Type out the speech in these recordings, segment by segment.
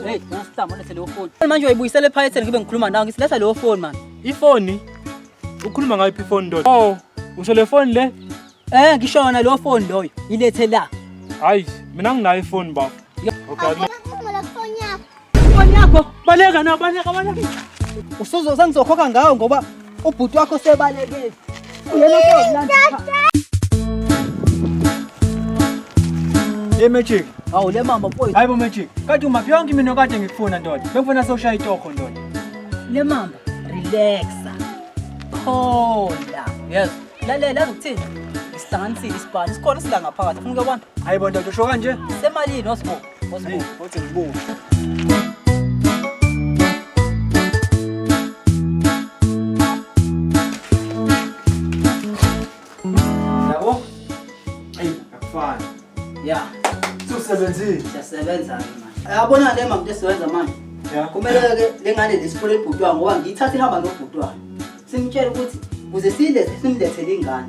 Hey, nasihlamba lethe leyo phone. Manje uyibuyisele ephaketheni ngibe ngikhuluma nawe ngithi letha leyo phone man. Ifoni? Ukhuluma ngayo iphi ifoni ndoda? Oh, usho le phone le? Eh, ngishona leyo phone loyo. Ilethe la. Hayi, mina nginayo ifoni baba. Okay. Bonyako, baleka na, baleka, baleka. Usuzo sengizokhokha ngawo ngoba ubhuti wakho sebalekile. Uyena kodwa. Hey Magic. Hawu le mama boy. Hayibo Magic. Kade umaphi yonke imino kade ngikufuna ndoda. Bengifuna sewushaya itokho ndoda. Le mama relaxa. Phola. Yes. Lalela uzokuthini? Isihlanganisile isibani. Sikhona sila ngaphakathi. Ufuna ukubona? Hayibo ndoda usho kanje. Semalini osbo? Yabo? Ey, akufani. Yeah. Sisebenzile. Siyasebenza ke manje. Yabona le mama esiwenza manje. Yeah. Kumele ke lengane lesifole ibhutwa ngoba ngiyithatha ihamba nobhutwa. Simtshela ukuthi kuze silethe simlethele ingane.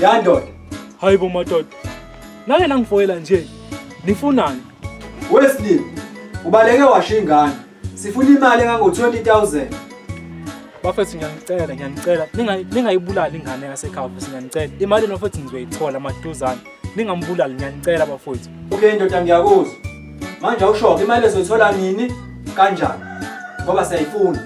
Ya ndoda. Hayi bo madoda. Nake nangifoyela nje. Nifunani? Wesley, ubaleke washo ingane. Sifuna imali engango 20000. Bafethu ngiyanicela, ngiyanicela. Ningayi ningayibulali ingane yasekhaya, bafethu ngiyanicela. Imali nofethu ngizoyithola maduzane. Ningambulali ngiyanicela bafethu. Okay ndoda ngiyakuzwa. Manje awushoke imali ezoyithola nini? Kanjani? Ngoba siyayifuna.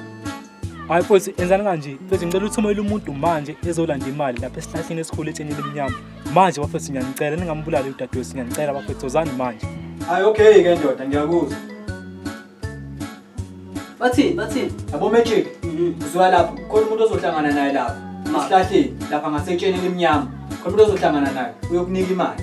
Hayi mfowethu enzani kanje. Mfowethu ngicela uthumele umuntu manje ezolanda imali lapha esihlahleni esikhulu etsheni elimnyama. Manje bafethu ngiyanicela ningambulali udadewethu ngiyanicela bafethu ozani manje. Hayi okay ke ndoda ngiyakuzwa. Bathini bathini? Yabo magic. Uzwa lapho khona umuntu ozohlangana naye lapha. Esihlahleni lapha ngasetsheni elimnyama. Khona umuntu ozohlangana naye uyokunika imali.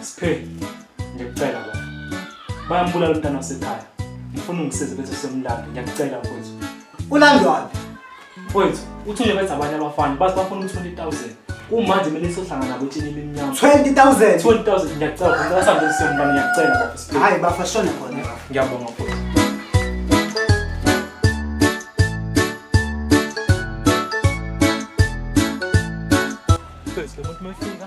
Siphe, ngikucela baba. Bayambulala umntana wasekhaya. Ngifuna ungisize bese semlanda. Ngiyakucela mfowethu. Ulandwaphi? Mfowethu, uthule bethu abanye abafana bathi bafuna u-20,000. Kumanje mina sohlangana kutshini imimnyama. 20,000. 20,000 ngiyacela baba. Ngicela sambe semlanda ngiyacela baba. Siphe. Hayi bafa shona khona baba. Ngiyabonga mfowethu. Mfowethu, lo muntu mefika.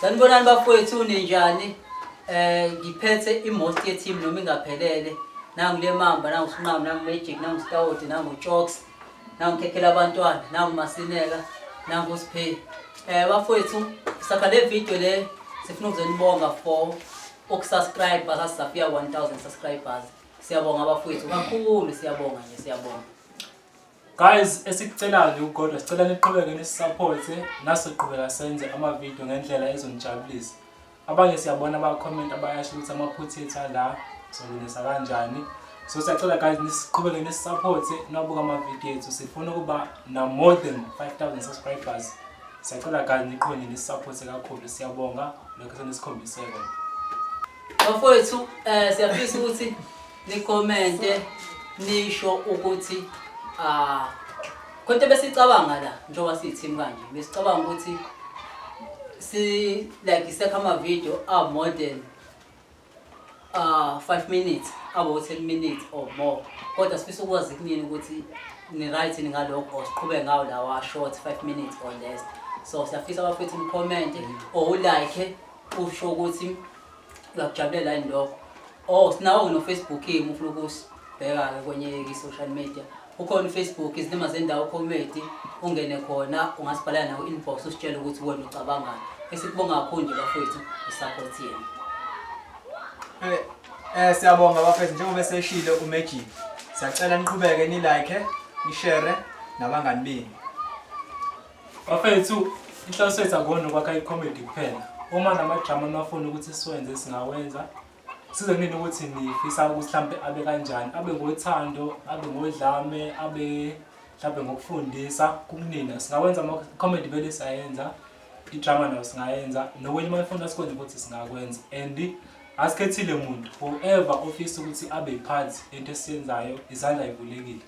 Sanibonani bafowethu ninjani? Eh ngiphethe imost ye team noma ingaphelele. Nangu le mamba, nangu sinqamu, nangu magic, nangu stout, nangu chokes. nangu khekhela abantwana nangu masineka nangu siphe eh bafowethu sakha le video le sifuna ukuzonibonga for ukusubscribe basasafika 1000 subscribers siyabonga bafowethu kakhulu siyabonga nje siyabonga guys esikucelayo nje ugodwa sicela niqhubeke nisisupporte nasiqhubeka senze ama video ngendlela ezonijabulisa abanye siyabona abakhomenti abayasho ukuthi amaphutha ethu ala solungisa kanjani so siyacela guys nisiqhubeke nisisapothe nabuka amavidiyo ethu sifuna ukuba na-more than 5000 subscribers siyacela guys niqhonye nisisapothe kakhulu siyabonga lokho senisikhombiseko bafowethu um siyafisa ukuthi Nikomente nisho ukuthi ah konke besicabanga la njengoba siyithimu kanje besicabanga ukuthi si like isekha ama video a more than uh 5 minutes abo 10 minutes or more kodwa sifisa ukwazi kunini ukuthi ni right ni ngalokho siqhube ngawo lawa short 5 minutes or less so siyafisa abafethu ni comment or u like usho ukuthi uyakujabulela yini lokho Oh, sinawo ngino-Facebook ke umufuna ukusi bheka-ke kwenye i-social media ukhona ufacebook izilima zendawo comedy ungene khona ungasibhalela nawo inbox usitshele ukuthi wena ucabangani esikubonga kakhulu nje bafowethu i-support yenu eh, eh siyabonga bafethu njengoba eseshilo umagic siyacela niqhubeke nilike nishere nabangani benu Bafethu, inhloso yethu akona ukwakha icomedy kuphela. Uma namadrama nafuna ukuthi siwenze singawenza. Size kunini ukuthi nifisa ukuthi mhlampe abe kanjani, abe ngothando, abe ngodlame, abe mhlampe ngokufundisa kukunina. Singawenza ama-comedy vele siyayenza, idrama nayo singayenza, nokunye uma nifuna sikwenze futhi singakwenza. And asikhethile muntu, whoever ofisa ukuthi abe yiphathi into esiyenzayo, izandla yivulekile.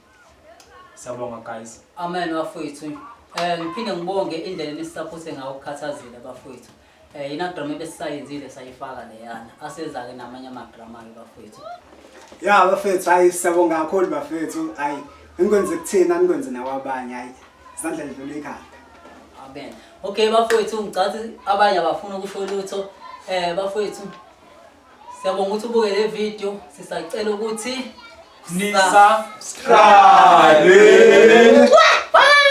Sabonga guys. Amen bafowethu. Eh ngiphinde ngibonge indlela enisapothe ngayo ukukhathazile bafowethu. Eh ina drama ebesayenzile sayifaka leyana. Aseza ke namanye ama drama ke bafowethu. Ya bafethu hayi siyabonga kakhulu bafethu hayi ngikwenze kuthina ngikwenze nakwabanye hayi izandla zidlula ikhanda amen okay bafowethu ngicathi abanye abafuna ukusho lutho eh bafowethu Siyabonga ukuthi ubuke le video sisacela ukuthi Nisa subscribe. Bye.